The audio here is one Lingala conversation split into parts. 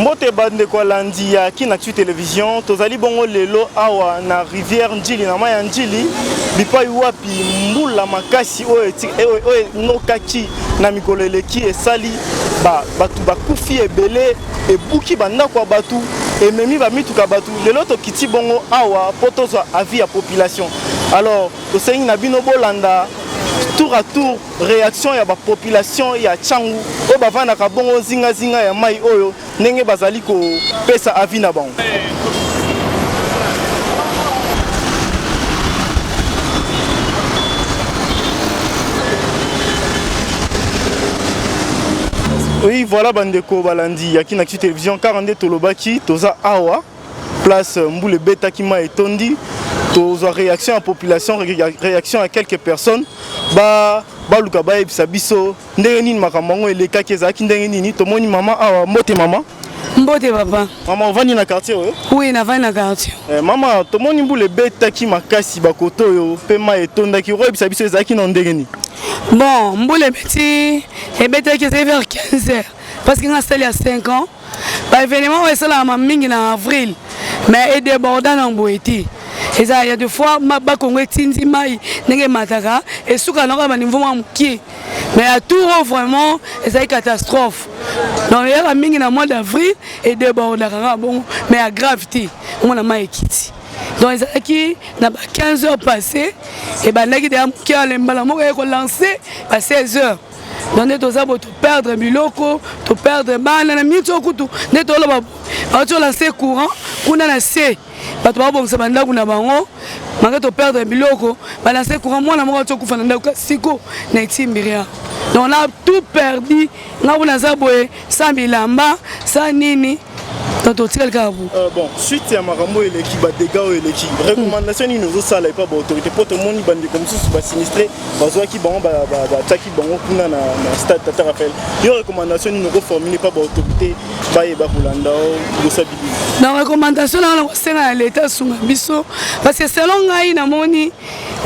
Mbote ba ndeko alandi ya Kinactu Television, tozali bongo lelo awa na rivière Ndjili na mayi ya Ndjili bipai wapi mbula makasi oyo oyo enokaki na mikolo eleki esali ba bato bakufi ebele ebuki bandako ya bato ememi bamituka bato lelo tokiti bongo awa mpo tozwa avis ya population alors tosengi na bino bolanda tour à tour reaction ya ba population ya Tshangu oyo bavandaka bongo zinga zinga ya mai oyo ndenge bazali kopesa avis na bango. Oui, voilà bandeko balandi ya Kinaksu Television 42 tolobaki toza awa place euh, mbula ebetaki mai etondi tozwa réaction ya population réaction ya quelques personnes ba baluka bayebisa biso ndenge nini makambo yango elekaki ezalaki ndenge nini tomoni mama awa mbote mama mbote papa mama ovandi na quartier oyo oui navandi na quartier eh, mama tomoni mbula ebetaki makasi bakoto oyo mpe mai etondaki okoyebisa biso ezalaki na ndenge nini bon mbula ebeti ebetaki ezali vers 15 heures parce que nga sali ya 5 ans ba événement oyo esalamaka mingi na avril mais edeborda na boye te eza ya de fois bakongo etindi mai ndenge emataka esuka na kaka baniveau mwa mokie mais ya tour oyo vraiment ezali catastrophe donc eyaka mingi na mois d'avril edebordaka kaka bongo mais ya grave te omona mai ekiti donc ezalaki na ba 15 heures passé ebandaki deya moke ale mbala moko eye kolanse ba 16 heures donc nde toza bo toperdre biloko toperdre bana na miniti oyo kutu nde toloba bauti olanse courant kuna na se bato babongisa bandako na bango mange toperdre biloko balanse courant mwana moko auti okufa na ndako siko na etimbiria donc na tout perdu nga kuna naza boye Sans bilamba, sans nini donc totikali kaka bo euh, bon suite ya makambo eleki badega oyo eleki recommandation nini ozosala epa baautorité mpo tomoni bandeko mosusu basinistre bazwaki bango batiaki bango kuna na stade tata raphael yo recommandation nini okoformule epa baautorité bayeba kolanda bosa bibi na recommandation nanga nakosenga na leta asunga biso parce que selon ngai namoni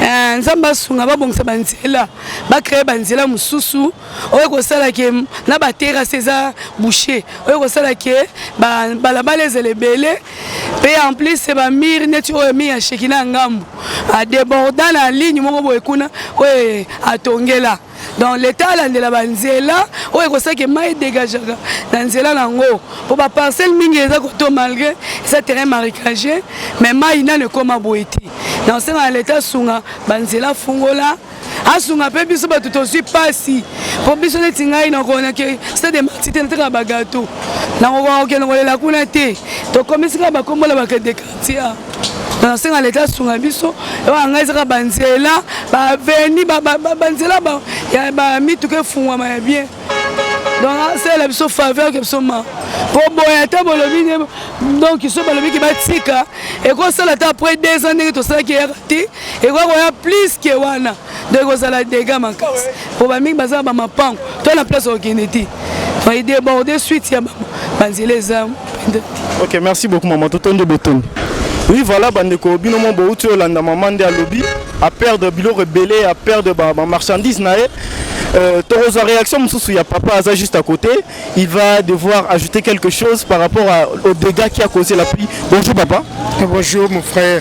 euh, nzambe asunga babongisa banzela bacreye banzela mosusu oyo ekosala ke na baterase eza boucher oyo ekosala ke balabala ezala ebele mpe en plus bamire neti oyo mire ya sheki na ngambu adeborda na ligne moko boye kuna oyo atongela donc leta alandela banzela oyo ekosaki mai edegagaka na nzela na yango mpo baparcelle mingi eza koto malgré eza terrain maricage mais mai nano ekoma boye te na osenga na leta asunga banzela fungola asunga mpe biso bato tozwi mpasi mpo biso neti ngai nakona ke stade de marti te nataka bagato nakokoka kokende kolela kuna te tokomisi kaka bakombola bakende quartier nasenga leta asunga biso ewana ngai ezaka banzela baveni banzela ya bamituka efungwama ya bien donc asalela biso faveur ke biso ma mpo boye ata bolobi nde donc so balobi ke batika ekosala ata après deux ans ndenge tosalaki eyaka te ekoki koya plus ke wana donc ekozala dega makasi mpo bamingi baza na bamapango to na place okende te mai deborde suite ya banzela eza ok merci beaucoup mama totondi botondi oui voilà bandeko bino mo bouti olanda mama nde alobi aperdre biloko ebele aperdre bamarchandise na ye Euh, Torozo, réaction, Moussou, ya papa Aza juste à côté. Il va devoir ajouter quelque chose par rapport à, aux dégâts qui a causé la pluie. Bonjour papa. Bonjour mon frère.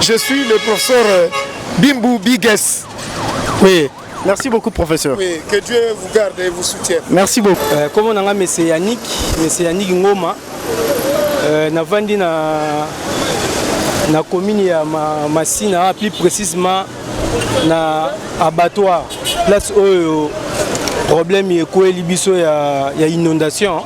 Je suis le professeur euh, Bimbu Bigues. Oui. Merci beaucoup, professeur. Oui, que Dieu vous garde et vous soutienne. Merci beaucoup. Euh, comment on a M. Yannick, M. Yannick Ngoma, euh, na vandi na na commune ya ma, Masina, plus précisément na abattoir, place où problème ekweli biso ya, ya inondation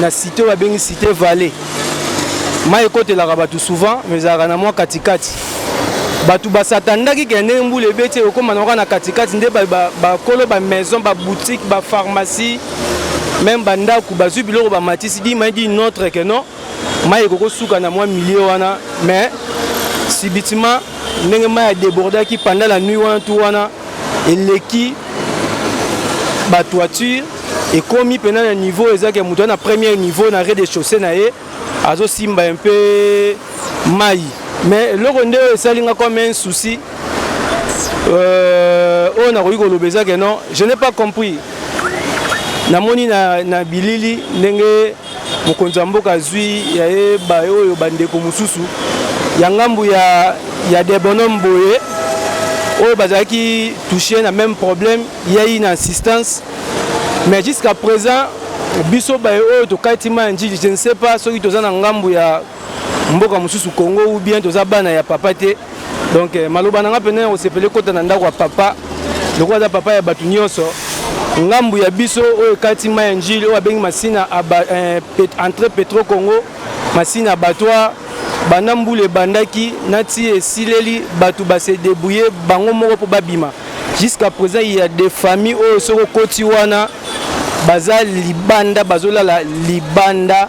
na site oyo babengi site vallée mai ekotelaka bato souvent mais ezalaka na mwa katikati bato basatandaki ke ndenge mbula ebeti ekokoma naoka na katikati nde bakolo bamaison baboutique bapharmacie meme bandako bazwi biloko bamatisi di mai di notre ke non mai ekoki kosuka na mwa milieu wana mais subitement ndenge mai ya debordaki pendant la nuit wana tu wana eleki ba toiture ekomi pena na niveau ezaki moto na premier niveau na rez-de-chaussée na ye azosimba un peu mai mais eloko nde oyo esali nga comme un souci euh, oyo nakoki koloba eza ke non je n'ai pas compris namoni na, na bilili ndenge Mokonzi ya mboka azwi ya ye baoyo bandeko mosusu ya ngambo ya, ya debonome boye oyo bazalaki touche na même problème yei na assistance mais jusqu'à présent biso baye oyo tokati ma ya njili je ne sais pas soki toza na ngambo ya mboka mosusu congo ou bien toza bana ya papa te donc eh, maloba na nga mpenza ya kosepele kota na ndako ya papa lokola aza papa ya bato nyonso ngambu ya biso oyo ekati mai ya njili oyo abengi masina eh, entre petro congo masina abattoir banda mbula ebandaki nati esileli bato base debrouille bango moko mpo babima jusqu'à présent il y a des familles oyo soki okoti wana baza libanda bazolala libanda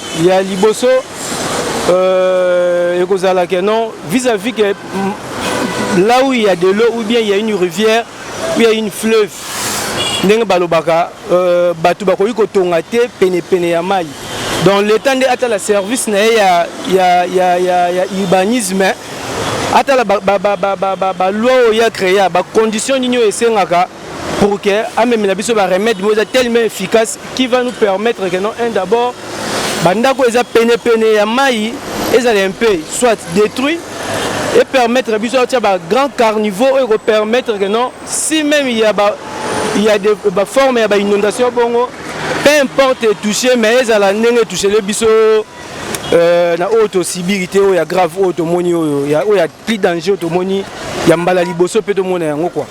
ya liboso euh, ekozala que non vis à vis que là où il y a de l'eau ou bien il y a une rivière ou il y a une fleuve ndenge balobaka euh, bato bakoki kotonga te penepene ya mai donc l'état nde atala service na ye ya, ya, ya, ya, ya urbanisme atala baloi oyo ya créa bacondition nini oyo esengaka pour que amemela biso ba remède moko eza tellement efficace qui va nous permettre que non un d'abord bandako eza pene pene ya mai ezala un peu soit détruit et permettre biso atia ba grand carnivaux oyo ekopermettre que non si même il y a ba il y a des ba forme ya ba inondation bongo peu importe etouche mais ezala ndenge etouchele biso euh, na oyo tosibiri te oyo ya grave oyo tomoni oyo ya, oyo ya plus danger oyo tomoni ya mbala liboso mpe tomona yango kua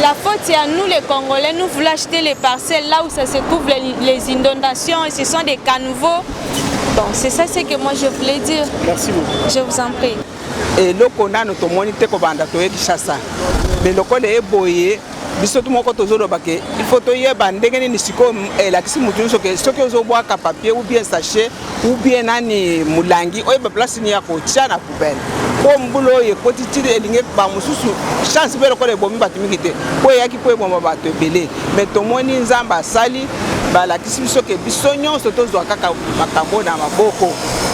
la faute est à nous les Congolais, nous voulons acheter les parcelles là où ça se couvre les, les inondations, ce sont des caniveaux. Bon, c'est ça ce que moi je voulais dire. Merci beaucoup. Je vous en prie. eloko nano tomoni te kobanda toye kinshasa me lokola eboye biso tu moko tozoloba ke il faut toyeba ndenge nini sikoyo elakisi motu nyonso ke soki ozobwaka papier ou bien sachet ou bien nani molangi oyeba place nini ya kotya na Ben. mpo mbula oyo ekoti ti elingi bango mosusu chance mpe lokola ebomi bato mingi te mpo eyaki mpo eboma bato ebele me tomoni nzambe asali balakisi biso ke biso nyonso tozwa kaka makambo na maboko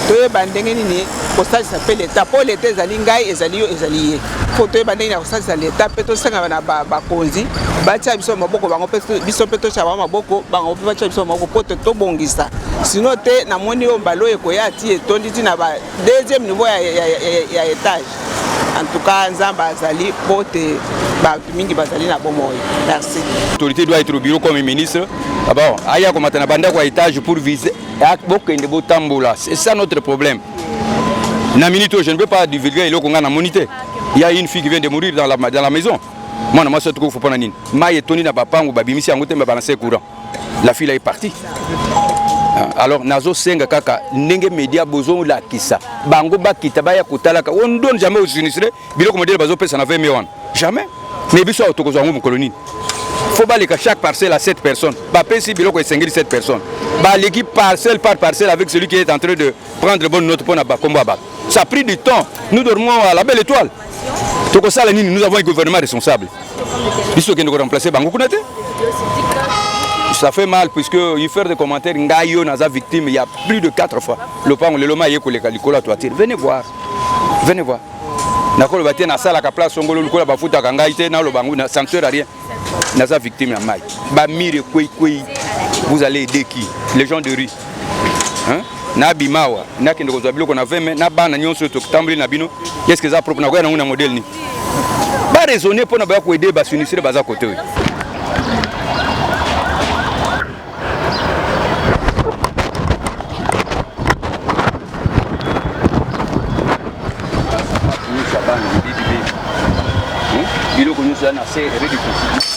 toyeba ndenge nini kosalisa mpe leta mpo leta ezali ngai ezali yo ezali ye mpo toyeba ndenge ya kosalisa leta mpe tosengama na bakonzi batya biso maboko bango biso mpe totya bango maboko bango mpe batya biso maboko mpo tobongisa sino te namoni oyo mbala oyo ekoya ti etondi ti na deuxième niveau ya, ya, ya, ya, ya etage en tout cas nzambe azali mpo te bato mingi bazali na bomoi merci autorité doit être au bureau comme ministre abord ah aya komata na bandako ya etage pour vise ah, bokende botambola c'est ça notre problème na minute oyo je ne peux pas divulguer eloko ngai namoni te il y a une fille qui vient de mourir dans la, dans la maison mwana mwasi atukufu mpo na nini mai etoni na bapangu babimisi yango te me balanse courant la fille là est partie ah, alors nazo senga kaka ndenge media bozo lakisa bango bakita baya kotalaka on donne jamais aux sinistrés biloko modèle bazo pesa na 20 millions jamais mais biso awa tokozwa yango mokolo nini faut baleka chaque parcelle à 7 personnes bapesi biloko esengeli 7 personnes baleki parcelle par parcelle avec celui qui est en train de prendre bonne note mpo na bakombo ya bato ça pris du temps nous dormons à la belle étoile tokosala nini nous avons un gouvernement responsable biso tokende ko remplacer bango kuna te ça fait mal puisque il faire des commentaires ngai yo naza victime il y a plus de 4 fois lopango lelo ma ye koleka likolo ya toiture venez voir venez voir nakoloba te nasalaka place ongolo lokola bafutaka ngai te naloba yango na sanctuaire rien naza victime ya mike bamire kweikwei vous allez aider qui les gens de rue hein? nabima awa nakende kozwa biloko na 20 mai na bana nyonso oyo totamboli na bino eske eza propre nakoya nango na modele nini baraisonne mpo na baya koede basinistre baza kote oyo biloko nyonso ya na se ebe bikosi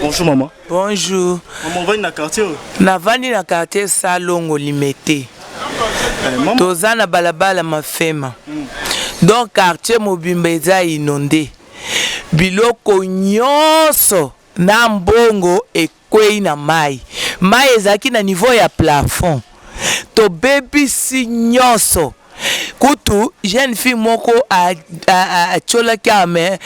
Bonjour maman. Bonjour. Maman ovandi na quartier oyo? Navandi na quartier Salongo Limete. Eh, Toza na balabala Mafema. Mm. Donc quartier mobimba eza inonde. Biloko nyonso na mbongo ekwei na mai. Mai ezalaki na niveau ya plafond. Tobebisi nyonso. kutu jeune fille moko atiolaki awa mais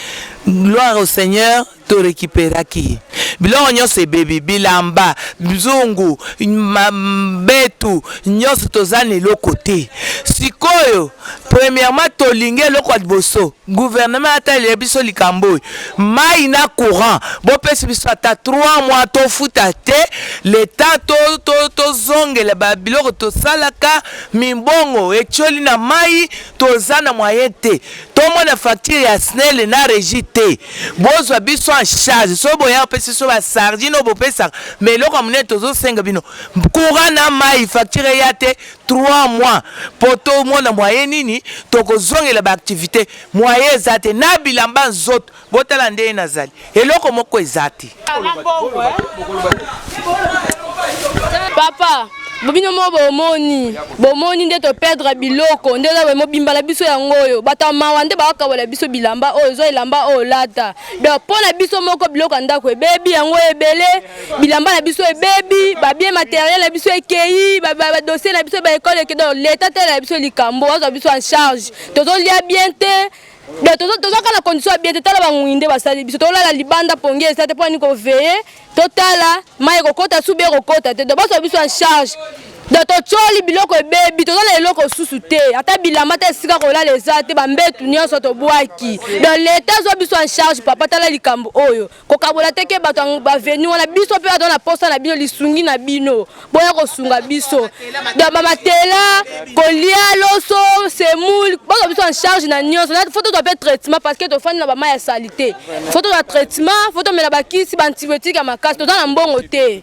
gloire au seigneur to recuperaki ye biloko nyonso ebebi bilamba nzungu betu nyonso toza na eloko te sikoyo premièrement tolingi eloko ya liboso gouvernement atalela biso likambo oyo mai na courant bopesi biso ata 3 mois tofuta te leta tozongela to, to, to babiloko tosalaka Mimbongo etioli na mayi toza na moyen te tomona facture ya snel na regie te bozwa biso en charge soki boya kopesa biso ba sardine oyo bopesaka mais eloko ya monene tozo senga bino courant na mayi facture eya te trois mois po tomona moyen nini tokozongela ba activite moyen eza te na bilamba nzoto Botala ndenge nazali. Eloko moko eza te. Papa, bobino mo bomoni, bomoni nde to perdre biloko nde oza bomo bimba na biso yango oyo bato ya mawa nde bakokabola biso bilamba oyo zwa elamba oyo lata donc mpo na biso moko biloko ya ndako ebebi yango ebele bilamba na biso ebebi babie materiel na biso ekei badosie na biso baekole eke donc leta tala na biso likambo azwa biso en charge tozolia bien te Donc tozo tozo kana condition ya bien te tala bangui nde basali biso tolala libanda pongi eza te poni ko veiller totala mayi kokota subi ekokota te donc baso biso en charge donc totyoli biloko ebebi toza na eloko susu te ata bilamba te esika kolala eza te bambetu nyonso tobwaki donc leta azwa biso en charge papa tala likambo oyo kokabola te ke bato ya baveni wana biso mpe bato na posa na bino lisungi na bino boya kosunga biso bamatela kolia loso semoule baza biso en charge na nyonso fo tozwa mpe traitement parce que tofandi na bamai ya salite fo tozwa traitement fo tomela bakisi baantibiotique ya makasi toza na mbongo te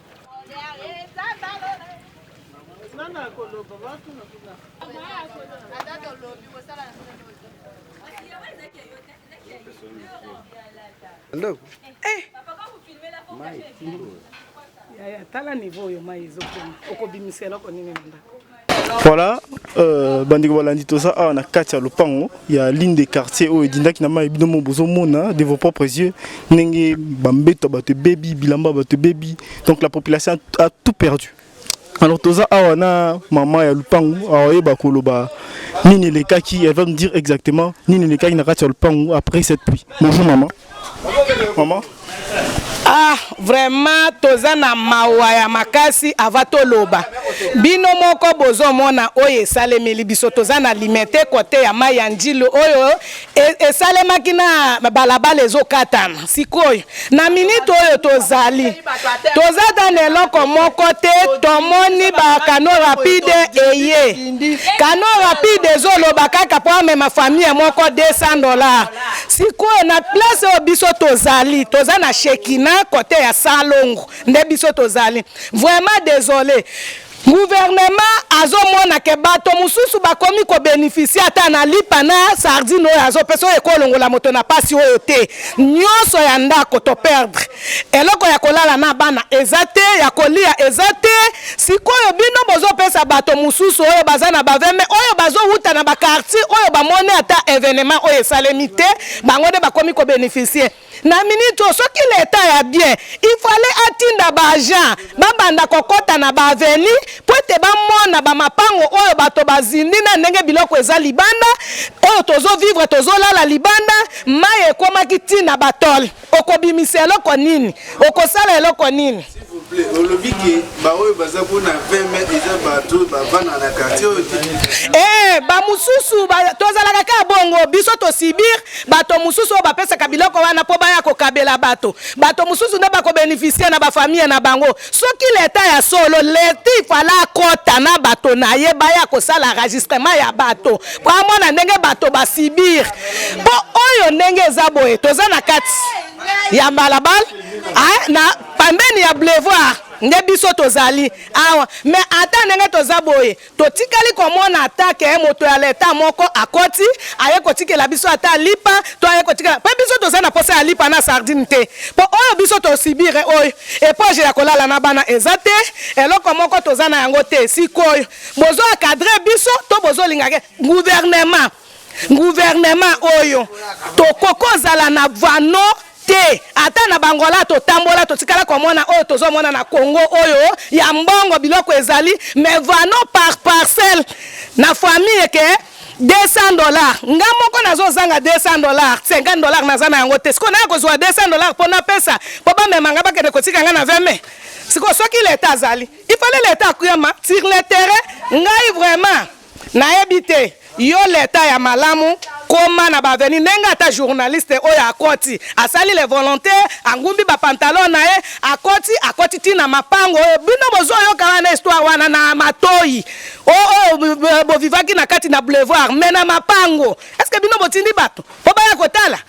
Ndeko. Eh. Yaya tala niveau oyo mai ezokoma. Okobimisa eloko nini na ndako? Voilà, euh, bandeko balandi toza awa na kati ya lopango ya ligne de quartier oyo edindaki na mai bino mo bozomona de vos propres yeux ndenge bambeto ya bato ebebi bilamba ya bato ebebi donc la population a, a tout perdu alors toza awa na mama ya lupangu aoyeba koloba nini elekaki elle va me dire exactement nini elekaki na kati ya lupangu après cette pluie bonjour mama Maman ah vraiment toza na mawa ya makasi ava toloba bino moko bozomona oyo esalemeli biso toza na limete kote ya mai ya njilo oyo e, esalemaki na balabala ezokatana sikoyo na minite oyo tozali toza ata na eloko moko te tomoni bakano rapide eye kano rapide ezoloba kaka mpo amema famille moko 200 dollars sikoyo na place oyo biso tozali toza na shekina kote ya salongo nde biso tozali vraiment desole guvernema azomona ke bato mosusu bakomi kobenefisie ata na lipa na sardine oyo azopesa oyo ekolongola moto na mpasi oyo te nyonso ya ndako toperdre Eloko ya kolala na bana eza te, ya kolia eza te, sikoyo bino bozo pesa bato mususu oyo baza na ba veme oyo bazo wuta na ba quartier oyo ba moni ata evenement oyo esalemi te bango nde bakomi ko beneficie na minute oyo soki l'etat ya bien il fallait atinda ba agent ba banda kokota na ba aveni po ete ba mona ba mapango oyo bato bazindi na ndenge biloko eza libanda oyo tozo vivre tozo lala libanda mayi ekomaki ti na ba tole okobimisa eloko nini okosala eloko nini olobi ke baoyo baza mpona 20 mai eza bato oyo bavanda na quartier oyo te ee eh, bamosusu tozalaka kaka bongo biso tosibir bato mosusu oyo bapesaka biloko wana mpo baya kokabela bato bato mosusu nde bakobenefisie na bafamille na bango Soki l'etat ya solo l'etat il fallait akota na bato na ye baya kosala enregistrement ya bato po amona ndenge bato ba subir po oyo ndenge eza boye toza na kati ya balabala ah, na pembeni ya boulevard nde biso tozali awa mais ata ndenge toza boye Totikali komona ata ke moto ya l'etat moko akoti aye kotikela biso ata lipa to aye kotikela pe biso toza na posa ya lipa na sardine te po oyo biso to subir oyo epoge ya kolala na bana eza te eloko moko toza na yango te sikoyo bozo acadre biso to bozo linga ke gouvernement Gouvernement oyo toko kozala na vano te ata na bangola totambola totikala komona oyo tozomona na congo oyo ya mbongo biloko ezali me vano par parcelle na famille ke 200 dollars nga moko nazozanga 200 dollars 50 dollars naza na yango te sikoyo naya kozwa 200 dollars mpo napesa mpo bamema nga bakende kotika nga na 20 mai sikoyo soki leta azali ifale leta akuyama sur le terrain ngai vraiment Nayebi te yo leta ya malamu koma na ba venu ndenge ata journaliste oyo akoti asali le volonte angumbi ba pantalon na ye akoti akoti ti na mapango oyo bino bozoyoka wana histoire wana na matoyi oyo bovivaki na kati na boulevard me na mapango eske bino botindi bato mpo baya kotala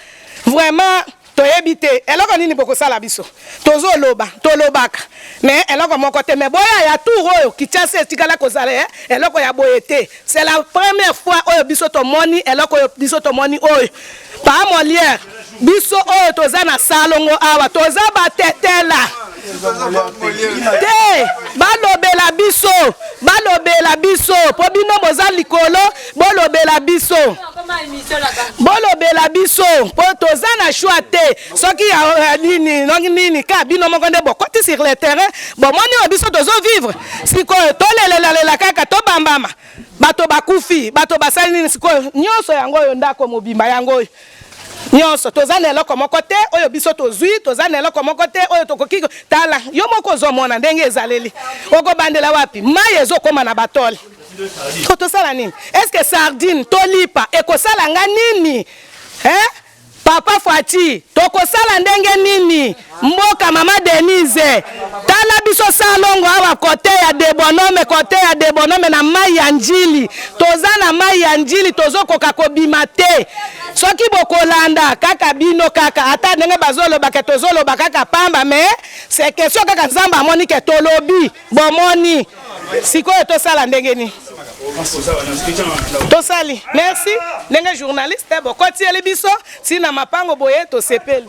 vraiment toyebi te eloko nini bokosala biso tozoloba tolobaka me eloko moko te me boya ya tour oyo kichasa etikala kozala eh, eloko ya boye te c'est la première fois oyo biso tomoni eloko oyo biso tomoni oyo pa moliere biso oyo toza na salongo awa toza batetela te balobela biso balobela biso mpo bino boza likolo bolobela biso bolobela biso mpo toza na choix te soki ya nini nongi nini ka bino moko nde bokoti sur le terrain bomoni oyo biso tozo vivre sikoyo tolelelalela kaka tobambama bato bakufi bato basali nini sikoyo nyonso yango oyo ndako mobimba yango oyo Nyonso. Toza na eloko moko te oyo biso tozui, toza na eloko moko te oyo tokoki. Tala, yo moko ozo mona ndenge ezaleli. Oko bandela wapi? Mayi ezo koma na ba tole. Ko tosala nini? Est ce que sardine to lipa eko sala nga nini? Hein? Papa Fatshi, toko sala ndenge nini? Mboka mama Denise tala biso salongo awa kote ya debonome kote ya debonome na mai ya njili toza na mai ya njili tozokoka kobima te soki bokolanda kaka bino kaka ata ndenge bazolobake tozoloba kaka pamba me se question kaka nzambe amoni ke tolobi bomoni sikoyo tosala ndenge nini tosali merci ndenge journaliste bokotieli biso ntina mapango boye tosepeli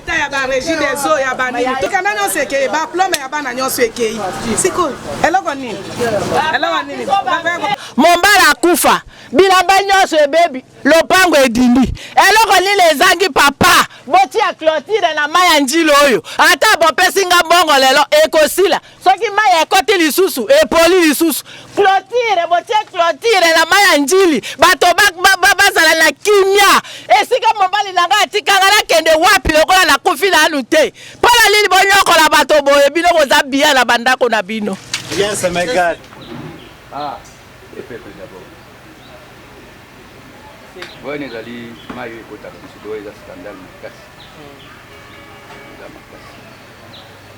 ta ya ba régie des eaux ya ba nini tokenda nyonso ekei ba plome ya bana nyonso ekei sikoyo eloko nini eloko nini mombala akufa bilamba nyonso ebebi lopango edindi eloko nini ezangi papa botia clotire na mai ya njili oyo ata bopesi nga mbongo lelo ekosila soki mai ekoti lisusu epoli lisusu clotire botie clotire na mai ya njili bato bazala na kimia esika mobali na ngai atikanga nakende wapi lokola nakufi nanu te mpo na nini bonyokola bato boye bino boza biya na bandako na bino yes, ah, wana ezali mai oyo ekotaka biso to eza skandale makasi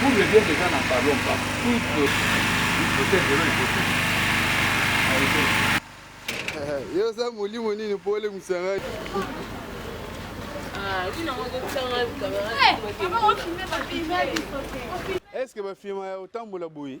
Poule bien déjà na ballon pas toutes toutes zero liboso. Yo oza molimo nini mpo olemwisa ngai? Est-ce que bafilma ya otambola boye?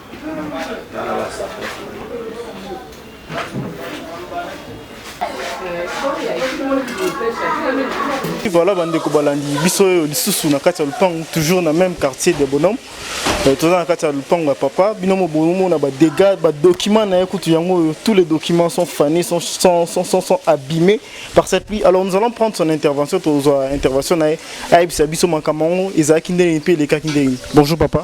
Voilà bandeko balandi biso oyo lisusu na kati ya lupangu toujours na même quartier de bonhomme euh, toza na kati ya lupangu ya papa bino mobomona badégats badocument na ye kutu yango oyo tous les documents sont fanés sont, sont, sont, sont, sont abîmés par cette pluie alors nous allons prendre son intervention tozwa intervention na ye ayebisa biso makambo yango ezalaki ndenge mpe elekaki ndenge bonjour papa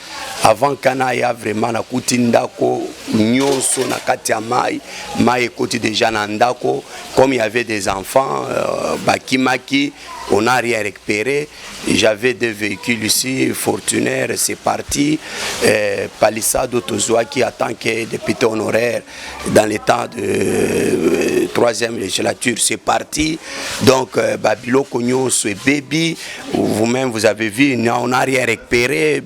avant kana aya vraiment nakuti ndako nyonso na kati ya mai mai ekoti deja na ndako comme y avait des enfants euh, bakimaki on a rien récupéré j'avais deux véhicules ici fortunaire c'est parti euh, palissado tozwaki en tant que député honoraire dans le temps de euh, troisième législature, c'est parti. Donc, euh, Babilo Cognon, c'est baby. Vous-même, vous avez vu, on n'a rien récupéré.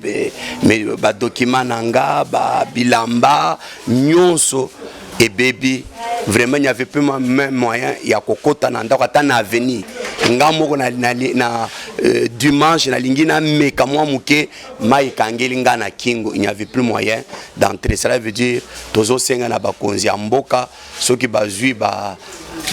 Mais, bah, document Nanga, bah, Bilamba, Nyonso et baby. Vraiment, il n'y avait plus même moyen. Il y a Kokota Nanda, Katan Avenue. nga moko na, na, na euh, dimanche nalingi nameka mwa moke mai ekangeli ngai na kingo il n'y avait plus moyen d'entrer cela veut dire tozosenga na bakonzi ya mboka soki bazwi ba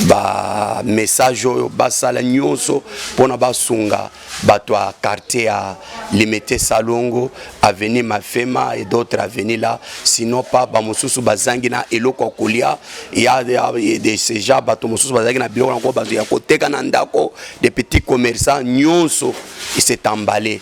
bamessage oyo basala nyonso mpona basunga bato ya quartier ya limete salongo avenue mafema et d'autres avenue là sinon pa bamosusu bazangi na eloko ya kolia ya de ce genre bato mosusu bazalaki na biloko yango bato ya koteka na ndako de petit commerçant nyonso esetambale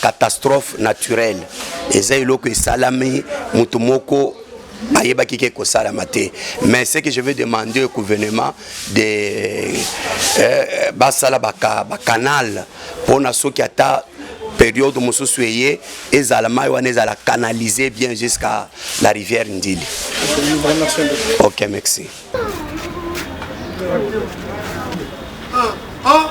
Catastrophe naturelle eza eloko esalami moto moko ayebaki ke kosalama te mais ce que je veux demander au gouvernement de euh, basala bacanal ba mpona soki ata periode mosusu eye ezala mai wana ezala canalise bien jusqu'à la rivière ndili ok merci ah, ah.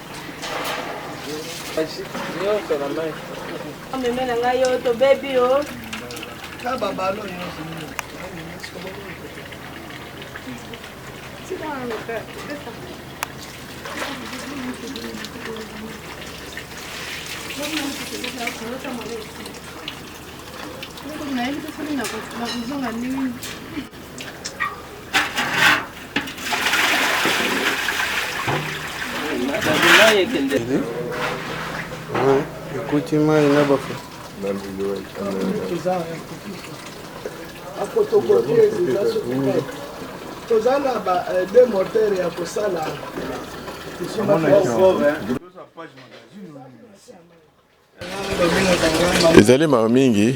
Amemela ngai yo tobebi yo. Kaba balo yo. Tika ngo ka. Thank you. ekoti mai na bafu toza na ba euh, deux moteur ya kosala ezali mawa mingi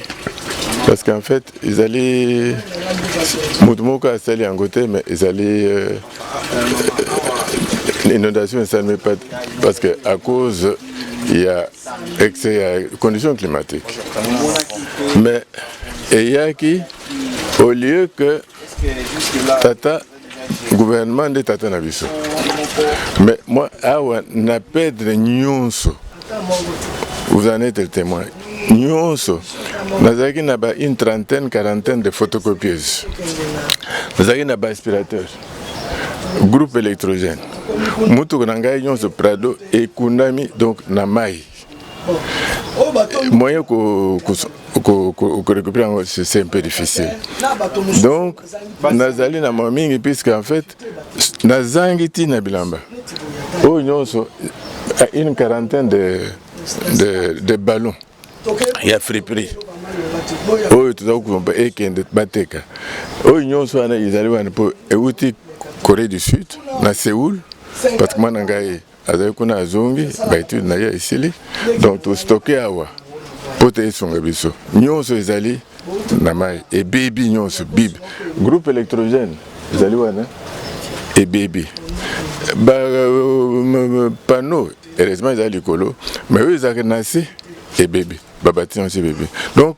parce qu'en fait ezali moto moko asali yango te mais ezali euh, euh, inondation esalemi pas parce que à cause ya excès ya condition climatique mais eyaki au lieu que tata gouvernement nde tata na biso mais moi awa na perdre nyonso vous en êtes témoin nyonso nazalaki na ba une trentaine quarantaine de photocopieuse nazalaki na ba aspirateur groupe électrogène motuku na ngai nyonso prado ekundami donc na mai moyen korécupere yango c'est un peu difficile donc nazali na mwa mingi puisque en fait nazangi ntina bilamba oyo nyonso une quarantaine de, de, de ballon ya friperie oyo toza kokomba ekende bateka oyo nyonso wana ezali wana mpo euti corée du sud na seoul parce que mwana ngai azali kuna azongi baetude na ye esili donc tostoke awa mpo te esunga biso nyonso ezali na mai ebebi nyonso bible groupe électrogène ezali wana ebebi bapano euh, heureusement ezali likolo mai oyo ezalaka na se ebebi babatiment nyonso ebebi donc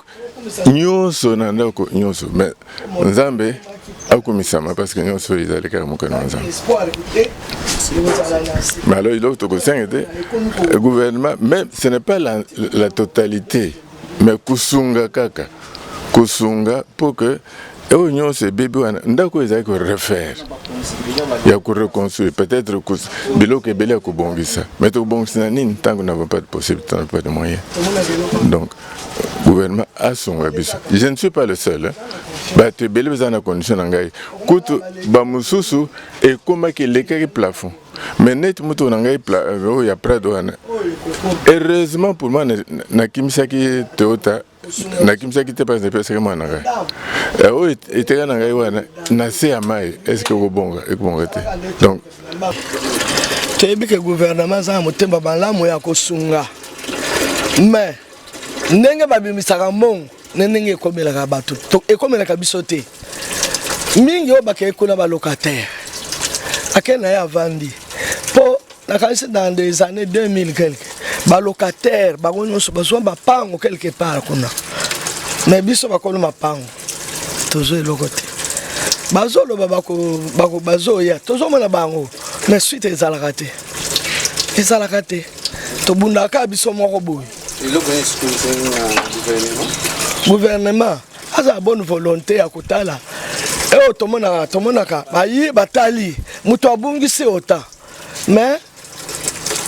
nyonso na ndako nyonso mais nzambe akumisama parce que nyonso oyo ezali kaka mokano ya nzambe mais alors eloko tokosenga ete gouvernement mais ce n'est pas la, la totalité mais kosunga kaka kosunga mpo que oyo nyonso ebebi wana ndako ezali korefaire ya koreconstruire peut-être biloko ebele ya kobongisa mais tokobongisa na nini ntango navo pas de possibilité na pas de moyen donc gouvernement asunga biso je ne suis pas le seul hein? bato ebele baza na condition na ngai kutu bamosusu ekomaki elekaki plafond mais neti moto na ngai euh, oyo ya prado wana heureusement pour moi nakimisaki toyota nakimisaki te mpasi napesaki mwana na ngai oyo eteka na ngai wana na se ya mai estce ekobonga ekobonga te donc toyebi ke guvernema eza na motema malamu ya kosunga me ndenge babimisaka mbongo na ndenge ekomelaka bato ekomelaka biso te mingi oyo bakei kuna balocataire ake na ye avandi mpo nakanisi dans des années 2000 quelque balocataire bango nyonso bazwa mapango quelque part kuna me biso bakolo mapango tozo eloko te bazoloba bazoya tozomona bango mais suite ezalaka te ezalaka te tobundaka biso moko boye gouvernement aza bonne volonté ya kotala eyo tomonaka tomonaka baye batali moto abungisi ota mais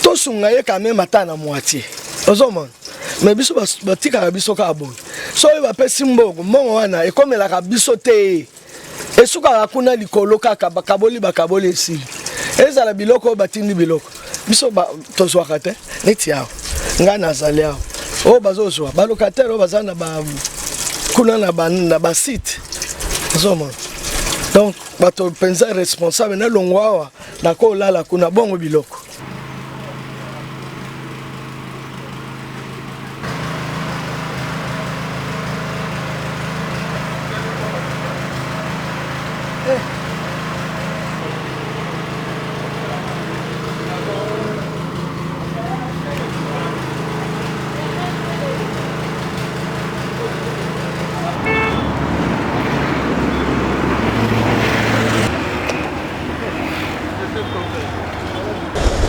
tosunga ye quand même ata na moitié ozomona mais biso batikaka biso kaka boye soki bapesi mbongo mbongo wana ekomelaka biso te esukaka kuna likolo kaka bakaboli bakaboli esili ezala biloko oyo batindi biloko biso tozwaka te neti awa ngai nazali awa oyo bazozwa balocataire oyo baza na ba kuna na basite ozomona donc bato mpenza responsable na longwa awa Nako lala kuna bongo biloko.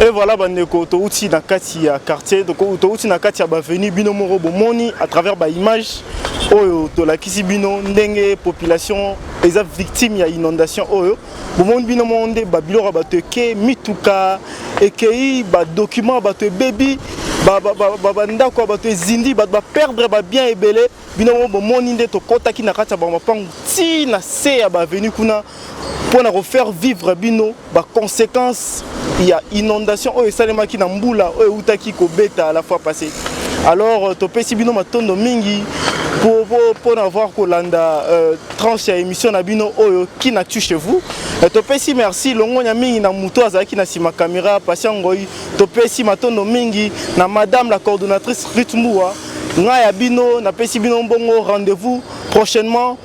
Et voilà bandeko touti na kati ya quartier touti na kati ya bavenu bino moko bomoni à travers ba image oyo tolakisi bino ndenge population eza victime ya inondation oyo bomoni bino moko nde babiloko ya bato eke mituka ekei badokima ya bato ebebi bandako ya bato ezindi bato baperdre babien ebele bino moko bomoni nde tokɔtaki na kati ya bamapangu ti na se ya bavenu kuna mpo na kofaire vivre bino baconséquence ya inondation oyo esalemaki na mbula oyo eutaki kobeta la fois passé alors euh, topesi bino matondo mingi mpo na voir kolanda euh, tranche ya émission na bino oyo kinature chez vous euh, topesi merci longonya mingi na moto azalaki na nsima caméra patient ngoi Topesi matondo mingi na madame la coordonnatrice Ruth Mbua. Ngai ya bino napesi bino mbongo rendez-vous prochainement.